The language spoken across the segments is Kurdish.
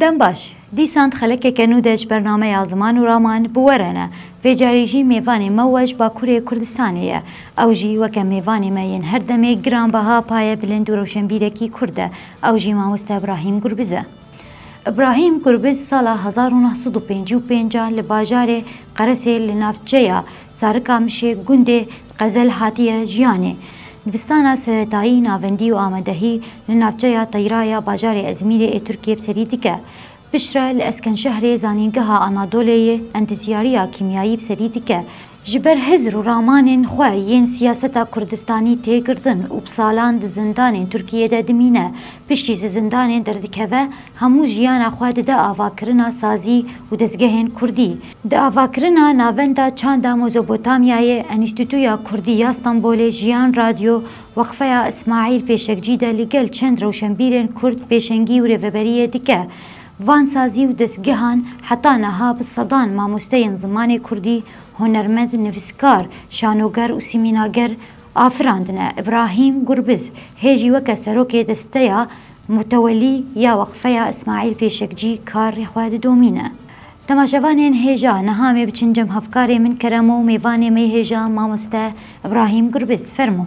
Dem baş, dîsan di xelekeke nû de ji ber nameya Ziman û Raman bi we re ne. Vê carî jî mêvanê me we ji Bakurê Kurdistanê ye. Ew jî weke mêvanê me yên her demê giranbeha paye bilind û rewşenbîrekî Kurd e, ew jî Mamoste Ibrahîm Gurbiz e. Ibrahîm Gurbiz sala hezar û neh sed û pêncî û pênc a li bajarê Qeresê li navçeya Sarikamişê gundê Xezel hatiye jiyanê. Dibistana seretayî navendî û amadehî li navçeya Teyra ya bajarê Ezmîrê ê Tirkiyê bi serî dike. Bişre li Eskenşehrê zanîngeha Anadolê yê endizyariya kîmyayî bi serî dike. Ji ber hizr û ramanên xwe yên siyaseta Kurdistanî tê girtin û bi salan di zindanên Tirkiyê de dimîne, piştî ji zindanê derdikeve, Hemû jiyana xwe dide avakirina sazî û dezgehên kurdî. Di avakirina Navenda Çanda Mozopotamyayê, Enîstîtuya Kurdî ya Stenbolê, Jiyan Radyo, Weqfeya Îsmaîl Pêşekcî de li gel çend rewşenbîrên kurd pêşengî û rêveberiyê dike. Van sazî û dezgehan heta niha bi sedan mamosteyên zimanê kurdî, hunermend, nivîskar, şanoger û sîmînager, Afirandine Îbrahîm Gurbiz hê jî weke serokê desteya mutewelî ya weqfeya Îsmaîl Pêşekcî karê xwe didomîne. Temaşevanên hêja niha mê biçin cem hevkarê min kerem û mêvanê me yê hêja mamoste Îbrahîm Gurbiz. Fermo.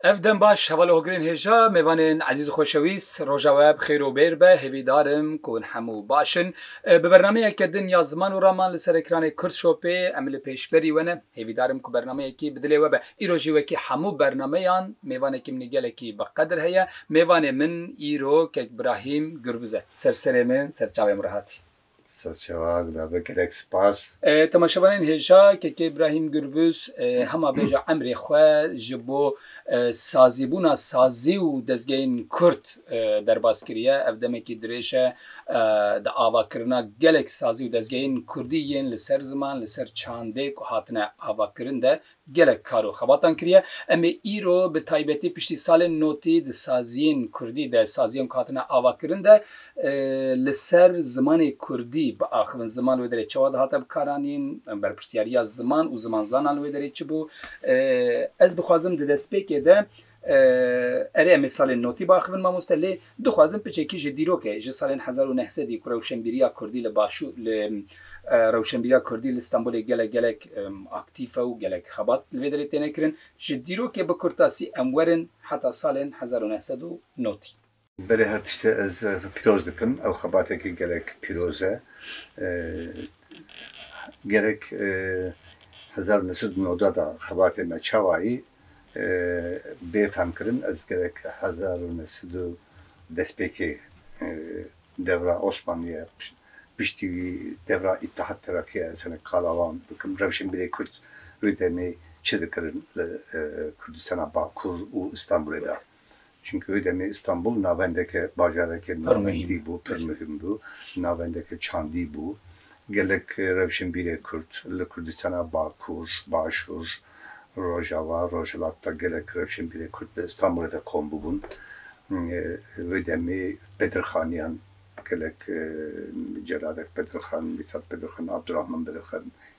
Ev dem baş hevalê hogirên hêja mêvanên ezîz û xoşewîst. Roja we bi xêr û bêr be, hêvîdar im ku hûn hemû baş in. Bi bernameyeke din ya ziman û raman li ser ekranê Kurdshopê em li pêşberî we ne. Hêvîdar im ku bernameyekî bi dilê we be. Îro jî wekî hemû bernameyan mêvanekî min ê gelekî bi qedir heye. Mêvanê min îro Kek Brahîm Gurbiz e. Ser serê min, ser çavê min re hatî. Saz Çewak da be gelek spas. Temaşevanên hêja KK Brahim Gürbüz hema bêja emrê xwe ji bo sazîbûna sazî û dezgehên Kurd derbas kiriye. Ev demekî dirêj e di avakirina gelek sazî û dezgehên Kurdî yên li ser ziman, li ser çandê ku hatine avakirin de Gelek kar û xebatan kiriye. Em ê îro bi taybetî piştî salên notî di saziyên kurdî de, saziyên ku hatine avakirin de li ser zimanê kurdî biaxivin. Ziman li wê derê çawa dihate bikaranîn? Berpirsyariya ziman û zimanzanan li wê derê çi bû? Ez dixwazim di destpêkê de Erê em ê salên notî biaxivin mamoste lê dixwazim piçekî ji dîroke ji salên hezar û neh sedî ku rewşenbîriya kurdî li başûr li rewşenbîriya kurdî li Stenbolê gelek gelek aktîf e û gelek xebat li vê derê têne kirin ji dîrokê bikurtasî em werin heta salên hezar û neh sed û notî. Belê her tiştê ez pîroz dikim. Ew xebatekî gelek pîroz e. Gerek hezar û neh sed û newda de xebatê me çawayî bê fehm kirin. Ez gerek hezar û neh sed û destpêkê dewra Osmanlîye piştî wî dewra Îttihat Terakîye ez hinek qala wan bikim. Rewşenbîrê kurd wê demê çi dikirin li Kurdistana Bakur û Îstanbulê de? Çimkî wê demê Îstanbul navendeke bajareke nûnertî bû, pir muhîm bû, navendeke çandî bû. Gelek rewşenbîrê Kurd li Kurdistana Bakur, Başûr, Rojava, Rojhilat de gelek rewşenbîrê Kurd li Îstanbulê de kom bûbûn. Wê demê Bedirxaniyan gelek Celadek Bedirxan, Mîtat Bedirxan, Abdurahman Bedirxan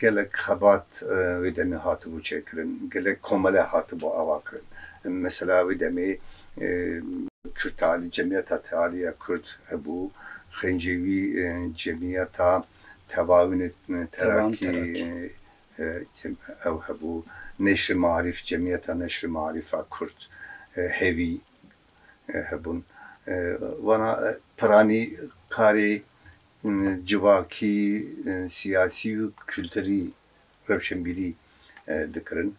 Gelek xebat wê demê hatibû çêkirin, gelek komele hatibû ava kirin. Mesela wê demê Kurd Tealî, Cemiyeta Tealî ya Kurd hebû, xêncê wî Cemiyeta Tevawînê Terakî ew hebû, Neşri Marîf, Cemiyeta Neşri Marîf a Kurd, hêvî hebûn. Wana piranî karê civakî, siyasî û kulturî rewşenbîrî dikirin.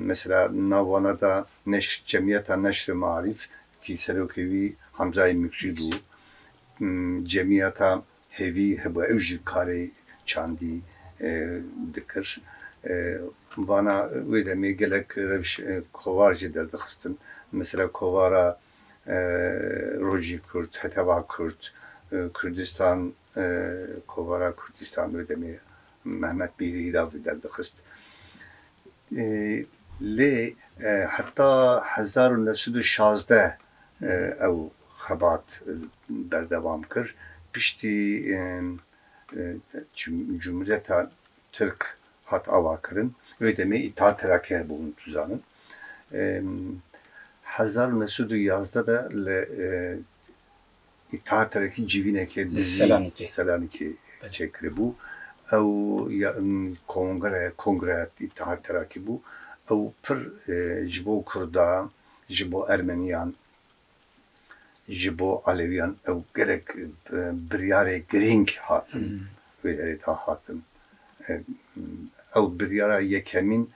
Mesela nav wana de neşr Cemiyeta Neşr-i Maarîf kî serokê wî Hamzayê Mûkçî bû, Cemiyeta Hêvî hebû ew jî karê çandî dikir. Vana wê demê gelek rewş kovar jî derdixistin. Mesela kovara Rojî Kurd, Heteva Kurd, Kurdistan, Kovara Kurdistan wê demê Mehmet Mîrî Îlavî derdixist. Lê heta hezar û neh sed û şazdeh ew xebat berdewam kir. Piştî Cumhuriyeta Tirk hat avakirin. Wê demê Îttihat Terakî hebû hûn dizanin. Hezar û neh sed û yazdeh de li teatreke civîneke li Selanîkê çêkiribû. Ew ya kongre, kongre teatrakî bû. Ew pir ji bo kurdan, ji bo ermeniyan, ji bo elewîyan ew gelek biryarê girîng hatin. Wê derê da hatin. Ew biryara yekemîn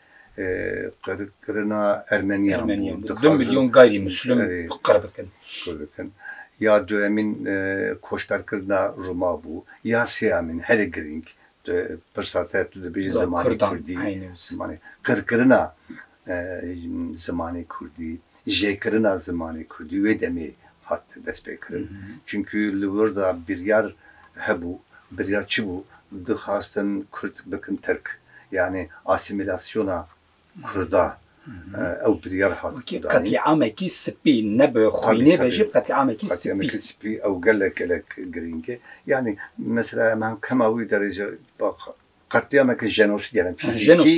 qirkirina Ermeniyan bû. Ermeniyan bû. Du milyon gayrî Muslûm qir bikin. Qir bikin. Ya duyemîn koçberkirina Rûma bû. Ya sêyamîn herî girîng, pirsa te tu dibêjî zimanê Kurdî, zimanê qirkirina zimanê kurdî, jêkirina zimanê kurdî wê demê hat destpêkirin. Çimkû li wir de biryar hebû, biryar çi bû? Dixwastin kurd bikin tirk. Yanî asîmîlasyona kurda ew biryar hat danîn. Wekî qetlîamekî spî ne bi xwînê ve jî bi qetlîamekî spî. Qetlîamekî spî ew gelek gelek girîng e. Yanî mesela em kema wî derece qetlîameke jenosîd ya fîzîkî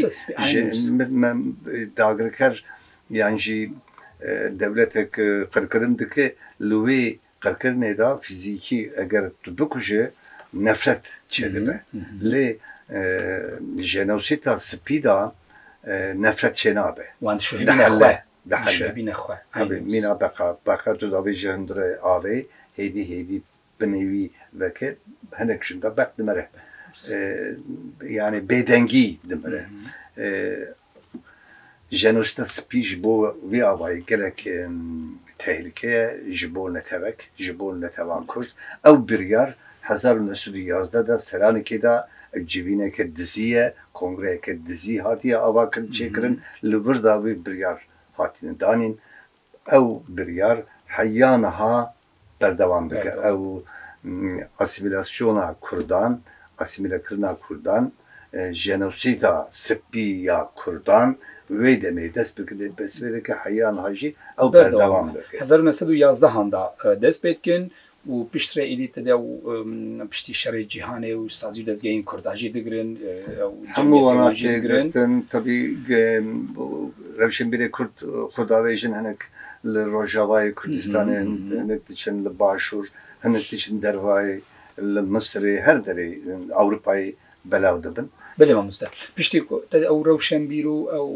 dagirker yan jî dewletek qirkirin dike li wê qirkirinê de fîzîkî eger tu bikuje nefret çêdibe lê jenosîda spî de nefret çênabe dihile mîna beqa beqa tu davêje hundirê avê hêdî hêdî Bi nêvî veke hinek jin de berf dimire. Yanî bêdengî dimire. Jenosîda spî ji bo vê avayî gelek tehlike ye ji bo netewek, ji bo netewan kurd. Ew biryar hezar û neh sed û yazdeh de Selanikê de civîneke dizî ye, kongreyeke dizî hatiye avakirin, çêkirin. Li vir de vê biryar hatine danîn. Ew biryar heya niha berdewam dike. Ew asîmîlasyona kurdan, asîmîlekirina kurdan, jenosîda spî ya kurdan wê demê dest bi dest pê dike heya niha jî ew berdewam dike. Hezar û neh sed û yazdehan de dest pê dikin û piştre êdî tede ew piştî şerê cîhanê û sazî û dezgehên kurda jî digirin. Ew Hemû cemiyetê wan jî welatê digirin. girtin. Tevî rewşenbîrê kurd xwe davêjin hinek li rojavayê Kurdistanê, hinek diçin li başûr, hinek diçin dervayê, li Misirê, her derê Ewropayê belav dibin. Belê mamoste. Piştî ku te ew rewşenbîr û ew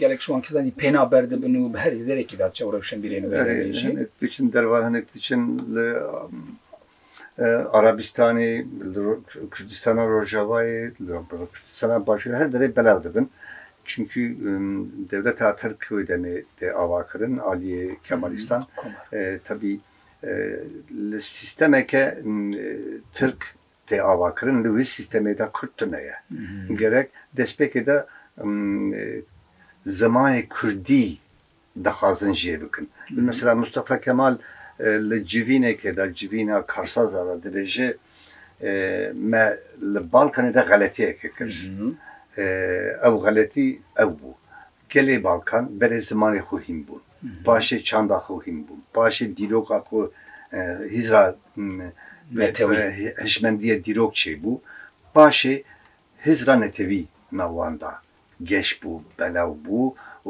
gelek ji wan kesan jî pêna berdibin û bi her hêdereke de çaw rewşenbîrên wê re jî. Hinek diçin derve hinek diçin li Arabistanê, li Kurdistana Rojavayê, li Kurdistana Başûrê her derê belav dibin. Çinkî dewleta Tirk wê demê tê avakirin aliyê Kemalîstan. Tevî li sîstemeke Tirk Tê avakirin li wî sîstemê de kurd tune ye. Gerek destpêkê de zimanê kurdî dixwazin jê bikin. Li mesela Mustafa Kemal li civînekê de, civîna karsazan de dibêje me li Balkanê de xeletiyeke kir. Ew xeletî ew bû. Gelê Balkan berê zimanê xwe hîn bûn, paşê çanda xwe hîn bûn, paşê dîroka ku hîzra hişmendiyê dîrok çêbû, paşê hîzra netewî nav wan da geş bû, belaw bû,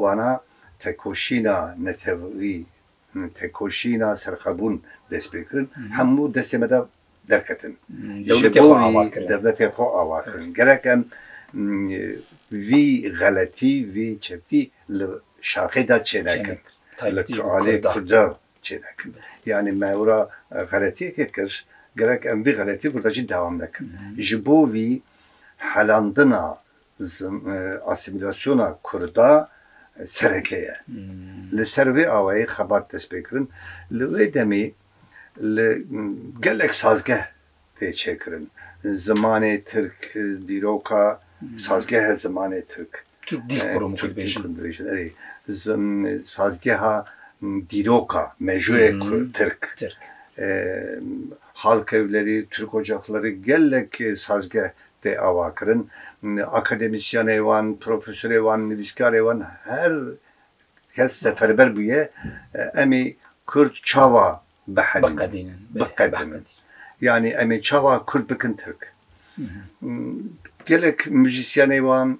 wana tekoşîna netewî Tekoşîna serxwebûn dest pê kirin, hemû destên me de derketin. Dewletê xwe ava kirin. Dewletê xwe ava kirin. Gerek em vî xeletî, vî çeftî li şarqê de çênekin. Li aliyê Kurdan çênekin. Yanî me wira xeletiyekê kir, gerek em vî xeletî kurdan jî dewam nekin. Ji bo vî helandina Asîmîlasyona Kurda sereke ye. Li ser vê awayî xebat dest pê kirin. Li wê demê li gelek sazgeh tê çêkirin. Zimanê Tirk, dîroka sazgehe zimanê Tirk. Tirk dîl kurum Kurd dibêjin. Erê, sazgeha dîroka mejûyê Tirk. Halkevlerî, Tirk Ocakleri gelek sazgeh tê avakirin. Akademîsyenê wan, profesorê wan, nivîskarê wan her kes seferber bûye em ê kurd çawa bihenînin, biqedin. Yanî em ê çawa kurd bikin tirk. Gelek muzîsyenê wan,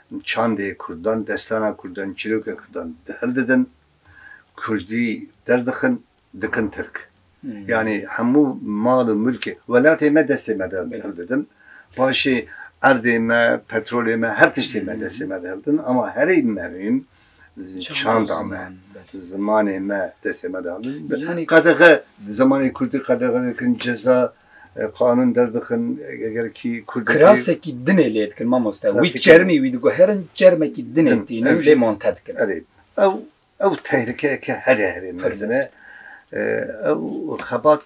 Çandê kurdan, destana kurdan, çîroka kurdan hil didin, kurdî derdixin, dikin tirk. Yanî hemû mal û milkê welatê me destê me de hil didin. Paşê erdê me, petrolê me, her tiştê me destê me de hil didin. Ama herî mehîm çanda me, zimanê me destê me de haldin. Qedexe zimanê kurdî qedexe dikin, ceza, qanûn derdixin eger kî kurd. Kirasekî dinê lê dikin mamoste. Wî çermî wî diguherin çermekî dinê tînin lê monte dikin. Erê ew ew tehlikeyeke herê herê mezin e. Ew xebat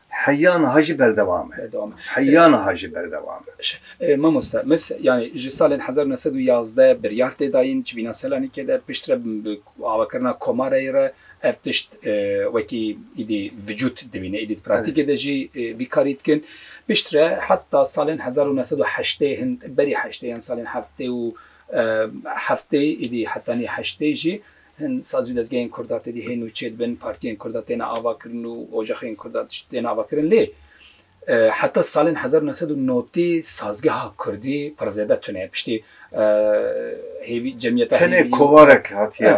Heya niha jî berdewam e. Berdewam e. Heya niha jî berdewam e. Baş e. Mamoste, mes yanî ji salên hezar û neh sed û yazdeh biryar tê dayîn civîna Selanikê de pişt re bi avakirina komareyê re ev tişt wekî îdî vicût dibîne. Îdî di praktîkê de jî vî karî dikin. Pişt re heta salên hezar û neh sed û heştê hin berî heştê yan salên heftê û heftê îdî hetanî heştê jî Hin sazî û dezgehên Kurd a tedî hên û çê dibin, partiyên Kurd a têne avakirin û ocaxên Kurd a tişt têne avakirin lê heta salên hezar û neh sed û notî sazgeha Kurdî pir zêde tune ye. Piştî hêvî cemiyeta hêvî. Tenê kovarek hatiye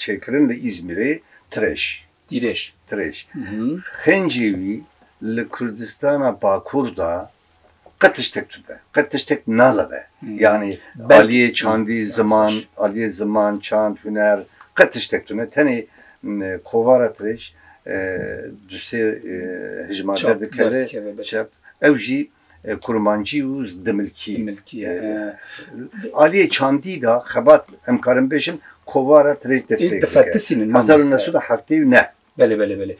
çêkirin li Îzmîrê, Tireş. Dirêj. Dirêj. Xêncê wî li Kurdistana Bakur de qet tiştek tube, qet tiştek naleve. Yanî aliyê çandî, ziman, aliyê ziman, çand, huner qet tiştek tune. Tenê kovara dirêj du sê hijmar derdikeve, ew jî Kurmancî û Dimilkî. Aliyê çandî de xebat em karin bêjin kovara tirêj dest pê kir. Hezar û neh sed û heftê û neh. Belê belê belê.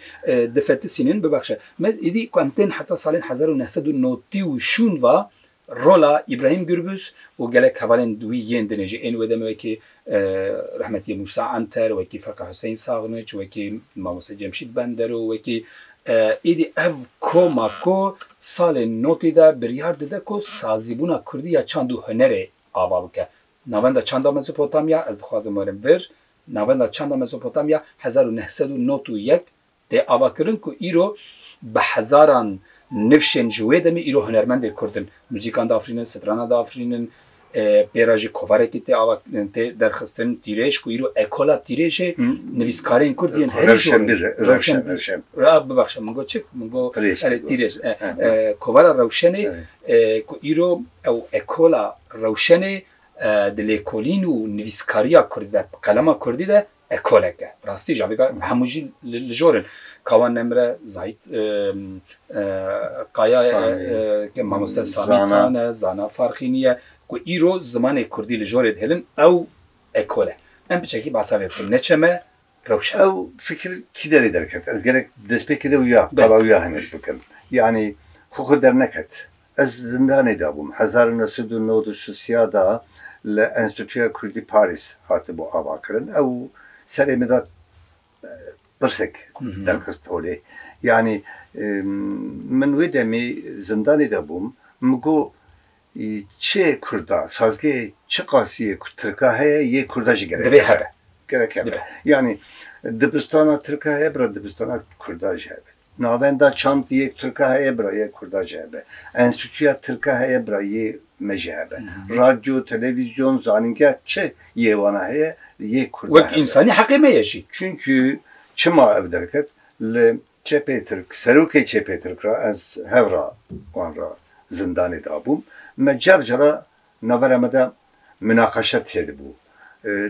Difetisînin bibexşe. Me êdî ku em tên heta salên hezar û neh sed û notî û şûn ve rola Îbrahîm Gûrbûz û gelek hevalên wî yên dinê jî ên wê demê wekî Rehmetî Mûsa Anter, wekî Feqî Huseyîn Saxniç, wekî Mamoste Cemşîd Bender û wekî Êdî ev koma ku salên notî de biryar dide ku sazîbûna kurdî ya çand û hunerê ava bike. Navenda Çanda Mezopotamya, ez dixwazim werim vir, Navenda Çanda Mezopotamya hezar û neh sed û nod û yek Tê avakirin ku îro bi hezaran nifşên ji wê demê îro hunermendên Kurd in, muzîkan diafirînin, strana diafirînin, pê re jî kovarekî tê ava tê derxistin, tîrêj ku îro ekola tîrêjê nivîskarên Kurd yên herî jor e, rewşenbîr, a bibexe min got çik, min got erê tîrêj, kovara rewşenê ku îro ew ekola rewşenê di lêkolîn û nivîskariya Kurd de, bi qelema Kurdî de Ekolek de bi rastî jî avêga em hemû jî li jor in. Kawan Nemre, Zahît Kaya ye, mamoste Samî Tan e, Zana Farxînî ye ku îro zimanê kurdî li jorê dihêlin ew ekol e. Em bi çekî behsa vê bikin. Neçe me rewş e. Ew fikir kî derê derket? Ez gelek bi destpêkê de wî ya qala wî ya hinek bikim. Yanî xwe xwe derneket. Ez zindanê de bûm. Hezar û neh sed û nod û sisiya de li Enstîtuya Kurdî Parîs hatibû avakirin. Ew serê min de pirsek derxist holê. Yanî min wê demê zindanê de bûm, min got çi Kurda, sazgehê çi qasî ye ku Tirka heye yê Kurda jî gerek hebe. Gerek hebe. Yanî dibistana Tirka heye, bira dibistana Kurda jî hebe. Navenda çand yek tirka heye bira yek kurda jî hebe. Enstîtuya tirka heye bira yê me jî hebe. Radyo, televîzyon, zanîngeh çi yê wana heye yek kurda hebe. Wek însanî heqê me ye jî. Çunkî çima ev derket li çepê tirk serokê çepê tirk re ez hev ra wan re zindanê dabûm me car cara Navbera me de minaqeşe têdibû.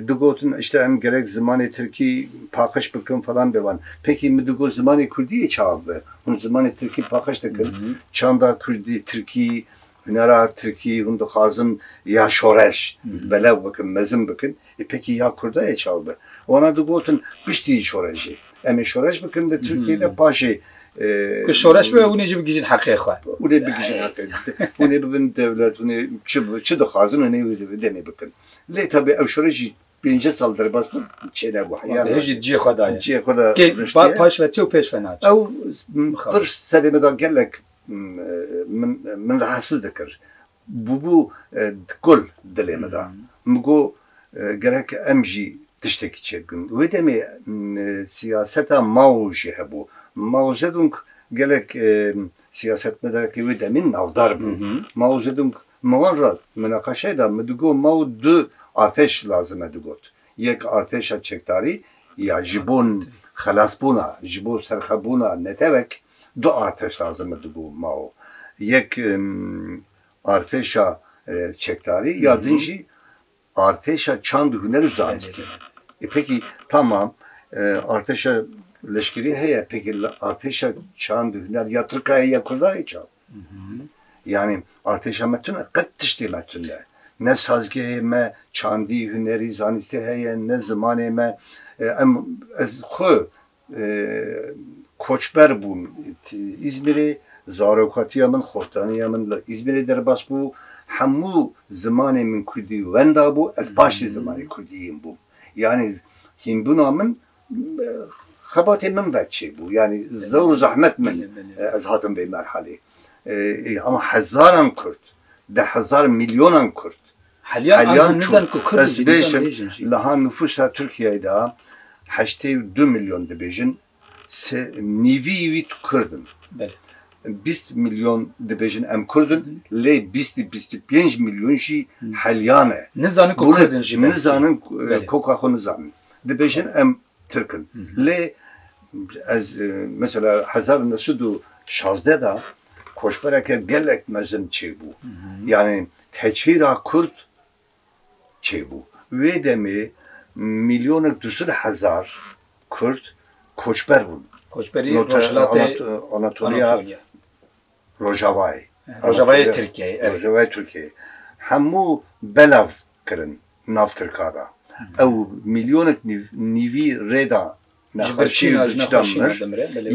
Digotin îşte em gerek zimanê tirkî paqij bikin falan bevan. Pêkî min digot zimanê kurdî yê çawa bibe? Hûn zimanê tirkî paqij dikin, çanda kurdî, tirkî, hunera tirkî hûn dixwazin ya şoreş belav bikin, mezin bikin. Ê pêkî ya kurdayê çav be. Wana digotin piştî şorejê. Em ê şoreş bikin di Tirkiyê de paşê. Ku şoreş bibe hûn ê jî bigihîjin heqê xwe. Hûn ê bigihîjin heqê xwe. Hûn ê bibin dewlet, hûn ê çi dixwazin hûn ê wê demê bikin. Lê tabî ew şoreş jî pêncî sal derbas bû çênebû heya. Zehîr jî cihê xwe daye. Cihê xwe de riştiye. Paş ve çi û pêş ve naçe. Ew pir serê min da gelek min rahatsiz dikir. Bûbû dikul dilê min de. Min got gerek em jî tiştekî çêbikin. Wê demê siyaseta Mao jî hebû. Mao Zedong gelek siyasetmedarekî wê demê navdar bû. Mao Zedong min wan re munaqeşeyê de min digot Mao du artêş lazim e digot. Yek artêşa çekdarî ya ji bo xelasbûna, ji bo serxwebûna netewek Du artêş lazim e di bo mao. Yek artêşa çekdarî ya din jî artêşa çand huner û zanistî. Ê pêkî tamam artêşa leşkerî heye pêkî artêşa çand û huner ya tirk a ye ya kurd a ye çawa? Yanî artêşa me tune? Qet tiştê me tune ne. Ne sazgehê me çandî, hunerî, zanistî heye ne zimanê me. Em ez xwe Koçber bûm Îzmîrê, zarokatiya min, xortaniya min li Îzmîrê derbas bû. Hemû zimanê min kurdî wenda bû, ez baş jî zimanê kurdî hîn bûm. Yanî hînbûna min xebatê min ve çêbû. Yanî zor û zehmet min ez hatim vê merhalê. Hezar an kurd, deh hezar, milyonan kurd Helyan çû, ez dibêjim niha nifûsa Tirkiyeyê de heştê û du milyon dibêjin, sê nîvî wî kurd in. Bîst milyon dibêjin em kurd in, lê bîstî bîstî pênc milyon jî helyan e. Nizanin ku kurd in jî belkî. Nizanin koka xwe nizanin. Dibêjin em Tirk in. Lê ez mesela hezar û neh sed û şazdeh de koçbereke gelek mezin çêbû. Yanî teçhîra kurd çêbû. Wê demê mîlyonek du sed hezar kurd koçber bûn. Koçberî Rojhilatê Anatoliya. Rojavayê. Rojavayê Tirkiyeyê, erê. Rojavayê Tirkiyeyê. Hemû belav kirin nav Tirka da. Ew mîlyonek nîvî rê da nexweşî û bi çitan mir.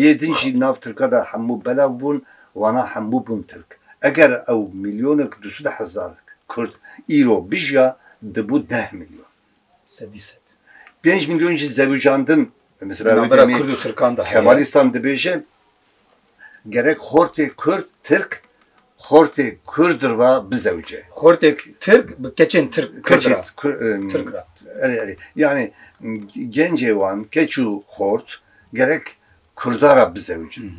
Yê din jî nav Tirka da hemû belav bûn, wana hemû bûn Tirk. Eger ew mîlyonek du sed hezar Kurd îro bijiya, dibû deh mîlyon. Sedî sed. Pênc mîlyon jî zevijandin. Mesela wê demê Kemalîstan dibêje, Gerek xortê kurd, tirk, xortê kurd ra bizewce. Xortê tirk bi keçên tirk, kurd Keçê ra. kur, em, Tirk ra. Erê erê. Yanî gencê wan keç û xort gerek kurda ra bizewicin.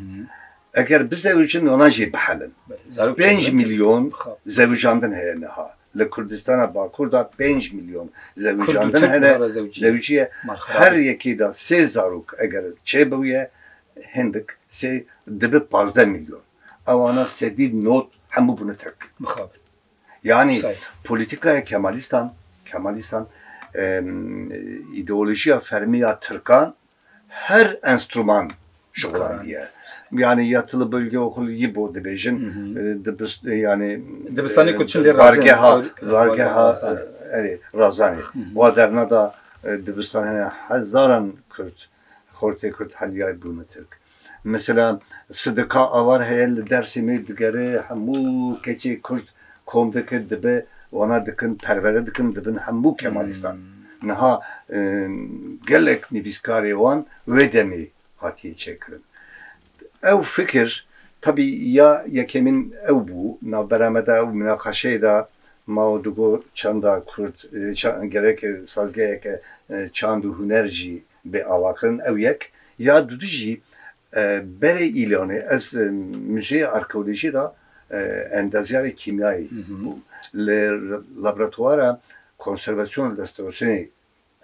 Eger bizewicin wana jî bihelin. Belê. Zarok Pênc çend in? milyon Xap. zewicandin heye niha. Li Kurdistana Bakur de pênc milyon Kurd û zewicandin tirk hene. niha re zewicî ye. Zewicî ye. Mal xerab Her e. yekê de sê zarok eger çêbûye Hindik sê dibi pazdeh milyon. Ewana sedî not hemû bûne tirk. Mixabin. Yanî polîtîkaya kemalîstan, kemalîstan îdeolojîya fermî ya tirkan her enstrûman şixulandiye. Yanî ya tu li bölge û xul yî bo dibêjin yanî dibistanê ku çin dê bargeha bargeha erê razanê. Wa derneda dibistan hene hezaran kurd Xortê Kurd Helyay bûne Tirk. Mesela Sidika Avar heye li Dêrsîmê digere hemû keçê Kurd kom dike dibe wana dikin perwere dikin dibin hemû Kemalîstan. Niha gelek nivîskarê wan wê demê hatiye çêkirin. Ew fikir tevî ya yekêmîn ew bû, navbera me de ew minaqaşeyê de mao digot çanda kurd gerek sazgeheke çand û huner jî bê avakirin ew yek ya du du jî berê îlanê ez muzeyê arkeolojî de endazyarê kîmyayê bûm li laboratwara konservasyonê restorasyonê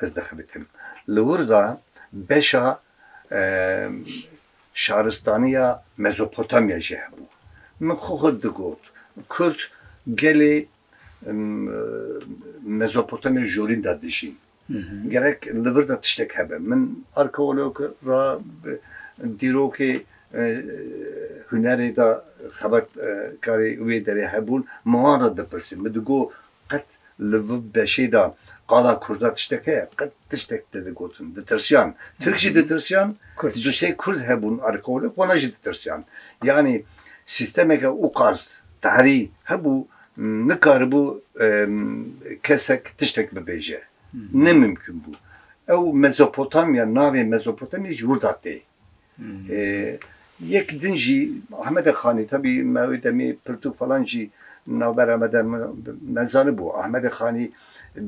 ez dixebitim. Li wir de beşa şaristaniya Mezopotamya jî hebû. Min xwe xwe digot kurd gelê Mezopotamya Jorîn de dijîn. Gerek li vir de tiştek hebe. Min arkeolog ra dîrokê hunerê de xebatkarê wê derê hebûn min wan re dipirsî. Min digot Qet li vi beşê de qala kurda tiştek heye? Qet tiştek tê digotin. Ditirsiyan. Tirk jî ditirsiyan. Du sê kurd hebûn arkeolog wana jî ditirsiyan. Yanî sîstemeke ûqas, tehrî, hebû nikaribû kesek tiştek bibêje. Ne mimkûn bû. Ew Mezopotamya, navê Mezopotamya ji wir de tê. Yek din jî Ahmedek Xanî, tevî me wê demê pirtûk falan jî navbera me de me zanibû. Ahmedek Xanî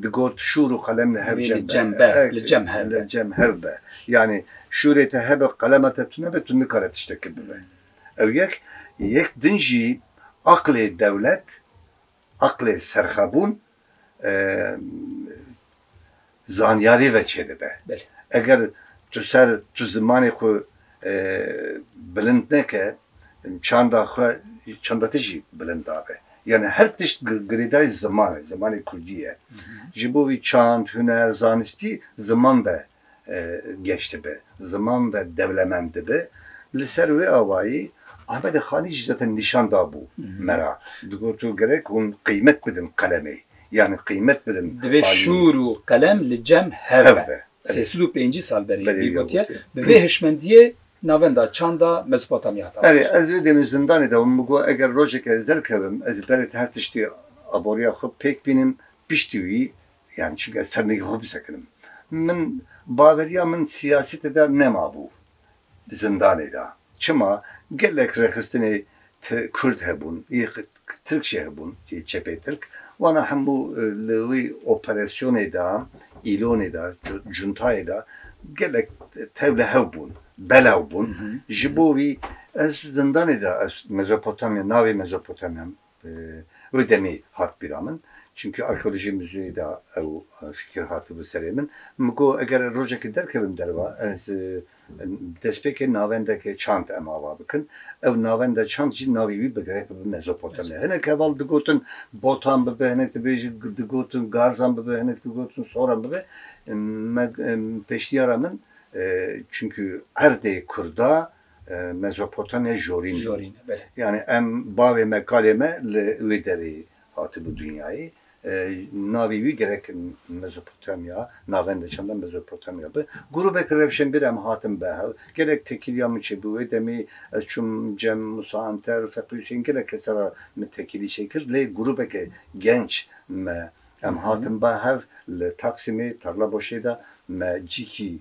digot şûr û qelem li hev cem be, li cem hev be, li cem hev be. Yanî şûrê te hebe qelema te tune be, tu nikare tiştekê bibe. Ew yek. Yek din jî aqilê dewlet, aqilê serxwebûn zanyarî ve çêdibe. Eger tu ser tu zimanê xwe bilind neke, çanda xwe çanda te jî bilind nabe. Yanî her tişt girêdayî ziman e, zimanê kurdî ye. Ji bo vî çand, huner, zanistî ziman be geş dibe, ziman ve dewlemend dibe. Li ser wê awayî Ahmedê Xanî jî zaten nîşan dabû me re, digot û gerek hûn qîmet bidin qelemê, yanî qîmet bidin alîyê. Divê şûr û qelem li cem hev be. Sê sed û pêncî sal berê wî gotiye, bi vê hişmendiyê navenda çanda Mezopotamya hatibû kir. Ez wê demê zindanê de bûm, min got eger rojekê ez derkevim, ez ê berê te her tiştî aboriya xwe pêk bînim, piştî wî Yan çi ke sermeyî xwe bisekinim. Min baveriya min siyasete de nemabû zindanê de. Çima gelek rêxistinê Kurd hebûn, yê Tirk jî hebûn, yê çepê Tirk. Wana hemû li wî operasyonê de, îlonê de, cuntayê de gelek tewlehew bûn, belaw bûn. Ji bo wî ez zindanê de ez Mezopotamya, navê Mezopotamya Wê demê hat bîra min. Çimkî arkeolojiyê muzeyê de ew fîkir hatibû serê min. Min got eger rojekê derkevim derve ez destpêkê navendeke çand em ava bikin. Ew navenda çand jî navê wî bi grek bibe Mezopotamya. Hinek heval digotin Botan bibe, hinek dibêjin digotin Garzan bibe, hinek digotin Soran bibe. Me pêşniyara min çimkî erdê kurda Mezopotamya Jorîn bû. Yanî em bavê me kalê me li wê derê hatibû dinyayê. Navê wî gerek Mezopotamya navend e çanda Mezopotamya bi. Grûbek rewşenbîr em hatin bi hev. Gelek tekîliya min çêbû. Wê demê ez çûm cem Musa Anter, Feqî Husên gelek kese re min tekîlî çêkir. Lê grûbeke genç me em hatin bi hev li Taksîmê Tarlabaşê de me cîkî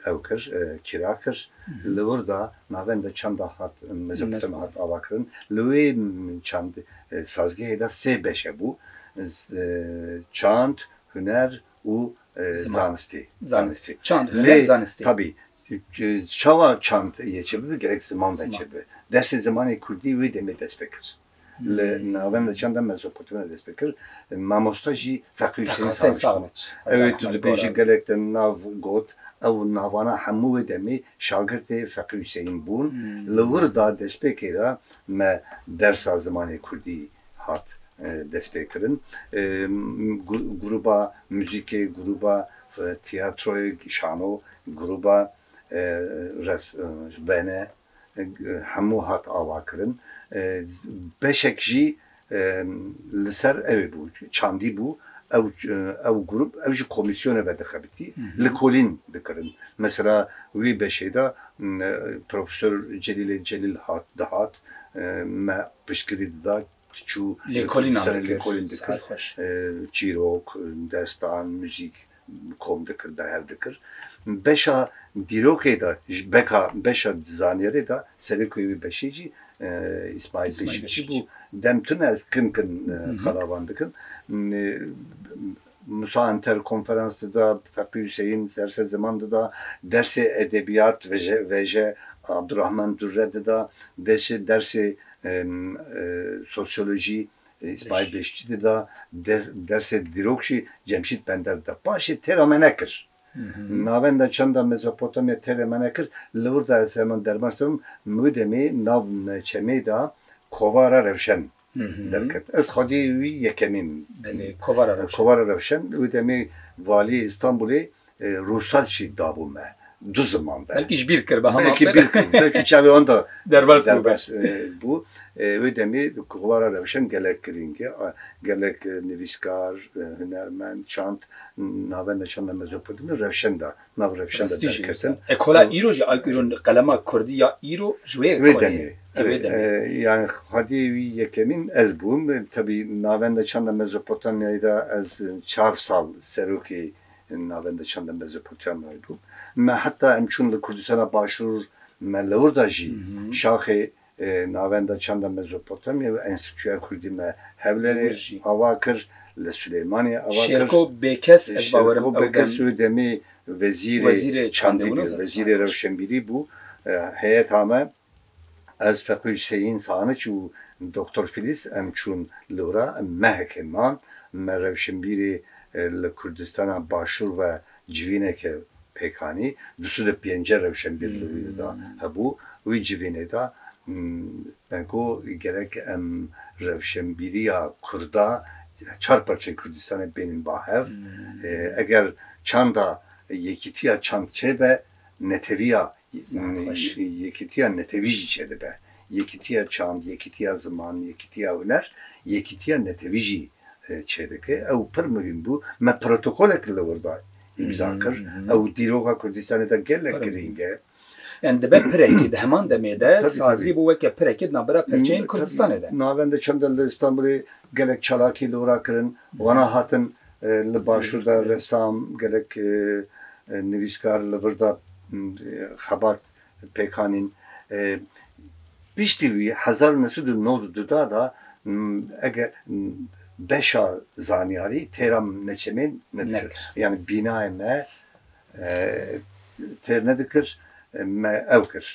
ew kir, kira kir. Li wir de navên de çanda hat Mezopotamya hat avakirin. Li wê çand sazgehê de sê beş hebû, çand, huner û zanistî. Zanistî. Çand, huner, zanistî. Tabî çawa çand yê çêbibe gerek ziman ve çêbibe. Dersê zimanê kurdî wê demê dest pê kir. Li navên li çanda Mezopotamya dest pê kir. Mamosta jî Feqî Husên Saxniç bû. Ew ê tu dibêjî gelek te nav got. Ew navana hemû wê demê şagirtê Feqî Husênîn bûn. Li wir da destpêkê de me dersa zimanê kurdî hat dest pê kirin. Grûba muzîkê, grûba tiyatroyê, şano, grûba res, vene, Hemû hat avakirin. Beşek jî li ser ew ê bû, çandî bû. Ew ew grûp ew ji komîsyonê ve dixebitî, likolîn dikirin. Mesela wê beşê de Profesor Celîlê Celîl hat dihat me piştgirî dida, diçû li ser lêkolîn dikir. Çîrok, destan, muzîk. kom dikir, berhev dikir. Beşa dîrokê de, beka beşa zaniyarê de serekoyê wê beşê cî Îsmaîl Beşikçî bû. Dem tune ez kin kin qalavan dikim. Musa Enter konferans dida, Feqî Huseyîn derse ziman dida, dersê edebiyat veje Abdurahman Durre dida, dersê sosyolojî Di Îspayê Beştîtê de dersê dîrok jî Cemşîd Pender dida. Paşê têra me nekir. Navenda çanda Mezopotamya têrê me nekir. Li wir de ez heman derman serum mû demê nav çemê de Kovara Rewşen derket. Ez xwedî wî yekemîn. Kovara Rewşen wî demê valiyê Îstanbulê Rûsel jî dabû me du ziman be. Belkî ji bîr kir be. Belkî bîr kir, belkî çavê wan de derbas bû. Wê demê kuxwara rewşen gelek girîng e. Gelek nivîskar, hunermend, çand navê me çanda Mezopotami de rewşen de nav rewşen de derketin. Ekola îro jî ay îro qelema kurdî ya îro ji wê ye. Wê demê yanî xwediyê wî yekemîn ez bûm. Tevî navenda çanda Mezopotamiyayê de ez çar sal serokê navenda çend em bezepûtiyan naydo. Me heta em çûn li Kurdistana Başûr me li wir da jî şaxê navenda çend em Mezopotamya û Enstîtuya Kurdî me Hewlêrê ava kir, li Silêmaniyê ava kir. Şêrko Bêkes ez bawerim ew demê. Şêrko Bêkes ew demê wezîrê çandî bû, wezîrê rewşenbîrî bû heyeta me. Ez Feqî Huseyîn Saniç û Doktor Fîlîs em çûn li wira mehekê man. Me rewşenbîrê li Kurdistana Başûr ve civîneke pêk anî. Du sed û pêncî rewşenbîr li wî de hebû. Wî civînê de me got gerek em rewşenbîriya Kurda çar parçeyê Kurdistanê bênin ba hev. Eger çanda yekîtiya çand çêbe neteviya Yekîtiya netewî jî çêdibe. Yekîtiya çand, yekîtiya ziman, yekîtiya huner, yekîtiya netewî jî çêdike. Ew pir muhîm bû. Me protokolek li wir de îmza kir. Ew dîroka Kurdistanê de gelek girîng e. Yan dibe pirekî di heman demê de sazî bû weke pirekî di navbera perçeyên Kurdistanê de. Navenda çanda li Îstanbulê gelek çalakî li wir de kirin. Wana hatin Li başûr de ressam gelek nivîskar li vir de xebat pêk anîn. Piştî wî hezar û neh sed û nod û du da de eger beşa zanyarî têra me çemên nedikir. Yanî bînayê me têr nedikir me ew kir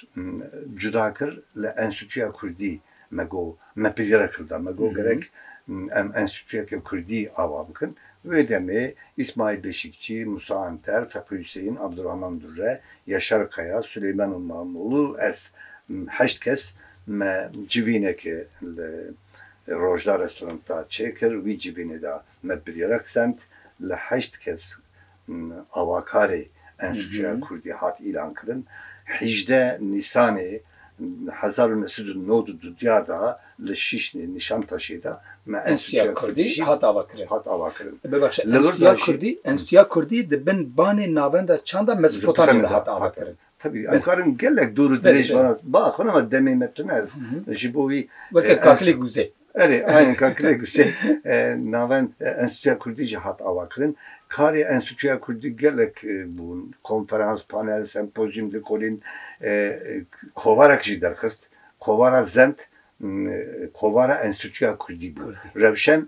cuda kir li Enstîtuya Kurdî. Me got, me pijre kir da, me got gerek em enstîtûyeke kurdî ava bikin. Wê demê Îsmaîl Beşîkçî, Musa Anter, Feqî Huseyîn, Abdurahman Dûrre, Yaşar Kaya, Suleyman û Mamolû û ez heşt kes me civîneke li Rojda Restoranta çêkir. Wî civînê de me biryara kisend li heşt kes Avakarê Enstîtuya Kurdî hat îlankirin hîjdeh Nîsanê hezar û neh sed û nod û duduya de li Şîşnê Nîşantaşê de me Enstîtuya Kurdî jî hat avakirin. Enstîtuya Kurdî di bin banê navenda çanda Mezopotamya de hat avakirin. Tebî em karin gelek dûr û dirêj van ez. Ba xwe nama demê me tune ez ji bo wî. Weke kakilê guzê. Erê aynen kakilê guzê navend Enstîtuya Kurdî jî hat avakirin. Karê Enstîtuya Kurdî gelek bûn. Konferans, panel, sempozyum di kolîn kovarek jî derxist. Kovara Zend kovara Enstîtuya Kurdî bû. Rewşen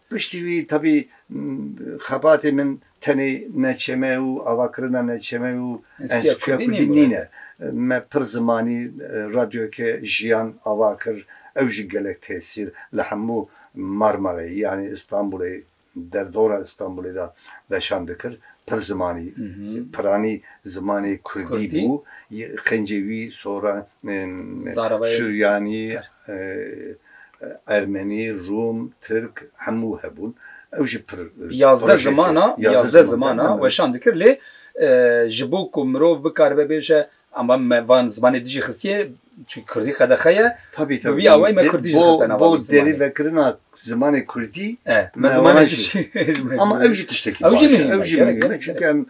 Piştî wî tevî xebatê min tenê neçeme û avakirina neçeme û enstîtuya kurdî nîne. Me pir zimanî Radyoyeke Jiyan ava kir, ew jî gelek tesîr li hemû Marmarayê yanî Îstanbûlê, derdora Îstanbûlê de veşan dikir. Pir zimanî, piranî zimanê kurdî bû. Xencê wî soran Suryanî, Ermenî, Rûm, Tirk hemû hebûn. Ew jî pir Yazdeh ziman a, yazdeh ziman a weşan dikir lê ji bo ku mirov bikaribe bêje amba me van zimanê dijî xistiye çi kurdî qedexe ye. Tabî tabî. Bi vî awayî me kurdî jî xiste nava vî zimanê. Bo derî vekirina Zimanê kurdî mewana jî ama ew jî tiştekî baş e. Ew jî mihîm e çunke em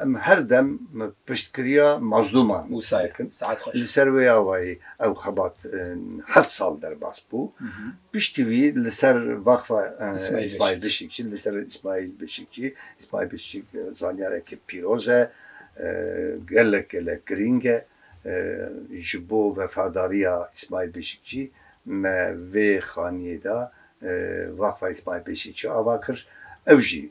em her dem piştkiriya mazlûman dikin. Li ser wê awayî ew xebat heft sal derbas bû. Piştî wî li ser vaxfa Îsmaîl Bişikçî li ser Îsmaîl Bişikçî, Îsmaîl Bişikçî zanyareke pîroz e, gelek gelek girîng e. Ji bo vefadarîya Îsmaîl Beşîkçî me vê xanîyê de Waqfa Îsmaîl Beşîkçî ava kir, ew jî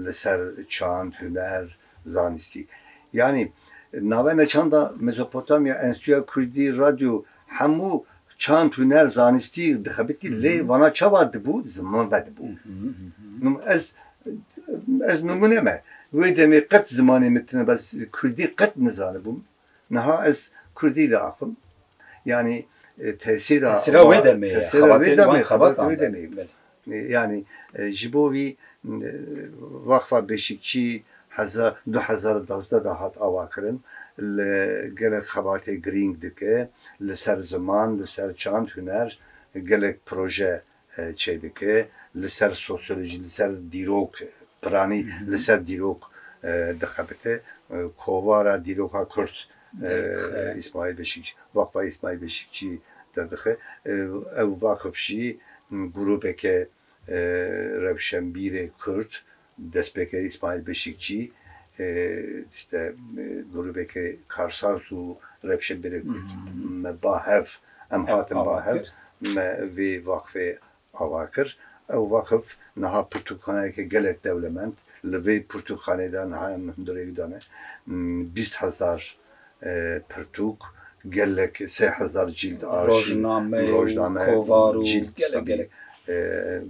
li ser çand, huner, zanîstî. Yanî navenda çanda Mezopotamya Enstîtuya Kurdî Radyo Hemû çand hûner zanistî dixebitî lê vana çawa dibû ziman vedibû. Ez ez nimûne me. Wê demê qet zimanê min tune bes kurdî qet nizanibûm. Niha ez kurdî diaxivim. Yanî tesîra Tesîra wê demê ye. Tesîra wê demê ye. Xebatê wê demê ye. Yanî ji bo wî Weqfa Beşîkçî heza du hezar û duwazdeh de hat avakirin li gelek xebatê girîng dike li ser ziman, li ser çand, huner gelek proje çêdike li ser sosyolojî, li ser dîrok piranî li ser dîrok dixebite. Kovara dîroka kurd Îsmaîl Beşîkçî, Waqfa Îsmaîl Beşîkçî derdixe. Ew vaxf jî grûpeke rewşenbîrê kurd, destpêkerî Îsmaîl Beşîkçî îşte grûpeke karsaz û rewşenbîrê kurd me ba hev, em hatin ba hev, me vê vaxfê ava kir, Ew wexf niha pirtûkxaneyeke gelek dewlemend, li vê pirtûkxaneyê de niha em hundirêk dane bîst hezar pirtûk, gelek sê hezar cîld arşîv, rojname, cîld kitabî,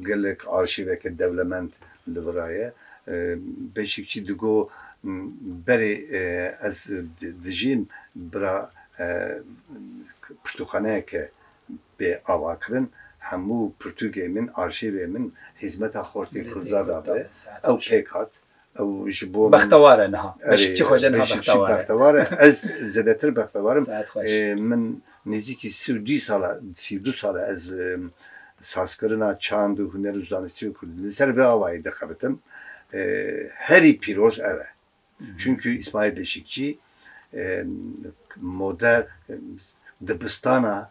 gelek arşîveke dewlemend li vir a ye. Beşîkçî digo, Berê ez dijîm bira pirtûkxaneyeke Bê avakirin hemû pirtûkê min, arşîvê min hîzmeta xortê Kurda da bi. Ew pêk hat. Ew ji bo min. Bextewar e niha. Beşikçî xwe jê niha bextewar e. Erê, bextewar e. Ez zêdetir bextewar im. Saet xweş. Min nêzîkî sî û dî sal e, sî û du sal e ez sazkirina çand û huner û zanistî û kurdî li ser vê avayî dixebitim. Herî pîroz ev e. Çunku Îsmaîl Beşîkçî mode dibistana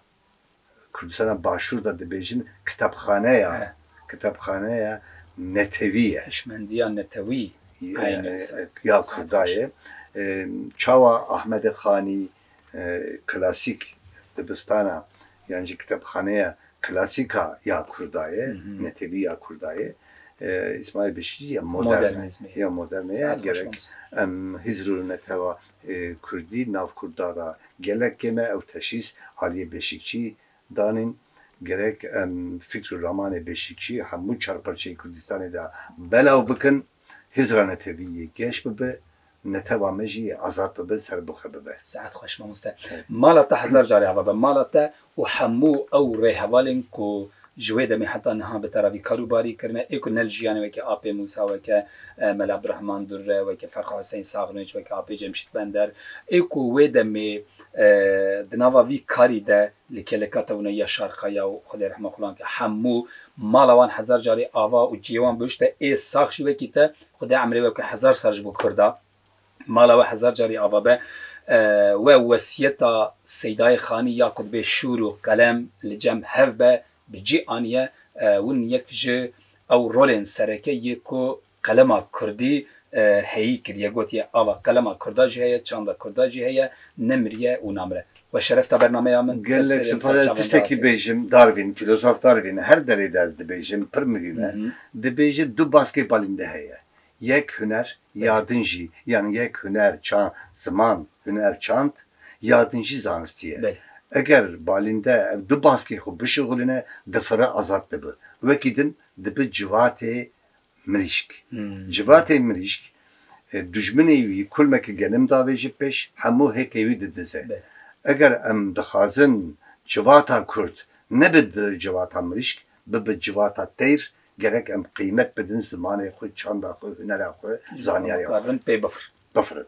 Kurdistana Başûr de dibêjin kitapxaneya kitapxaneya netewî ye. Hişmendiya netewî ya Kurda ye. Çawa Ahmedê Xanî, Klasîk, dibistana yan jî kitêbxaneya klasîk a ya kurda ye, netewî ya kurda ye. Îsmaîl Beşîrî ya modern e, ya modern e. Gerek em Hizr û netewa kurdî nav kurda de gelek kêm e. Ew teşhîs aliyê Beşîkçî danîn. Gerek em fikr û ramanê Beşîkçî hemû çar parçeyê Kurdistanê de belav bikin. Hizra netewî yê geş bibe, netewa me jî yê azad bibe, serbixwe bibe. Se'et xweş mamoste. Mala te hezar carî ava be. Mala te û hemû ew rêhevalên ku ji wê demê heta niha bi te re vî kar û barî kirine, ê ku ne li jiyanê weke Apê Mûsa, weke Mela Abdurehman Durre, weke Ferqa Huseyn Saxnûc, weke Apê Cemşît Bender, ê ku wê demê di nava vî karî de Li Keleka Tewne ya Şarqa ya û Xwedê rehma xulan ke hemû mala wan hezar carî ava û ciyê wan bihişte ê sax jî wekî te Xwedê emrê we bike hezar sal ji bo Kurda mala we hezar carî ava be we wesiyeta Seydayê Xanî ya ku dibe şûr û qelem li cem hev be bi cî aniye win yek ji ew rolên sereke yê ku Qelema kurdî heyî kiriye, gotiye ava qelema kurda jî heye, çanda kurda jî heye, nemiriye û namire. We şeref da bernameya min. Gelek spas ez tiştekî bêjim, Darwin, fîlozof Darwin her derê de ez dibêjim, pir mirîn e, dibêje du baskê balînde heye, yek huner, ya din jî, yanî yek huner, çand, ziman, huner, çand, ya din jî zanistî ye. Eger balînde ev du baskê xwe bişuxulîne, difire, azad dibe. Wekî din dibe civatê mirîşk. Civatê mirîşk dijminê wî kulmeke genim davêje pêş, hemû hêkê wî didize. Eger em dixwazin civata kurd nebe civata mirîşk, bibe civata teyr, gerek em qîmet bidin zimanê xwe, çanda xwe, hunera xwe, zanyarê xwe. Bifirin.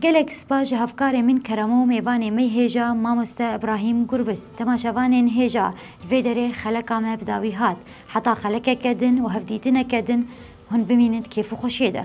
Gelek spas ji hevkarê min Keremo û mêvanê mey hêja mamoste Ibrahîm Gurbis. Dema şevanên hêja li vê derê xeleka me bi dawî hat. Heta xelekeke din û hevdîtineke din hûn bimînin di kêf û xweşiyê de.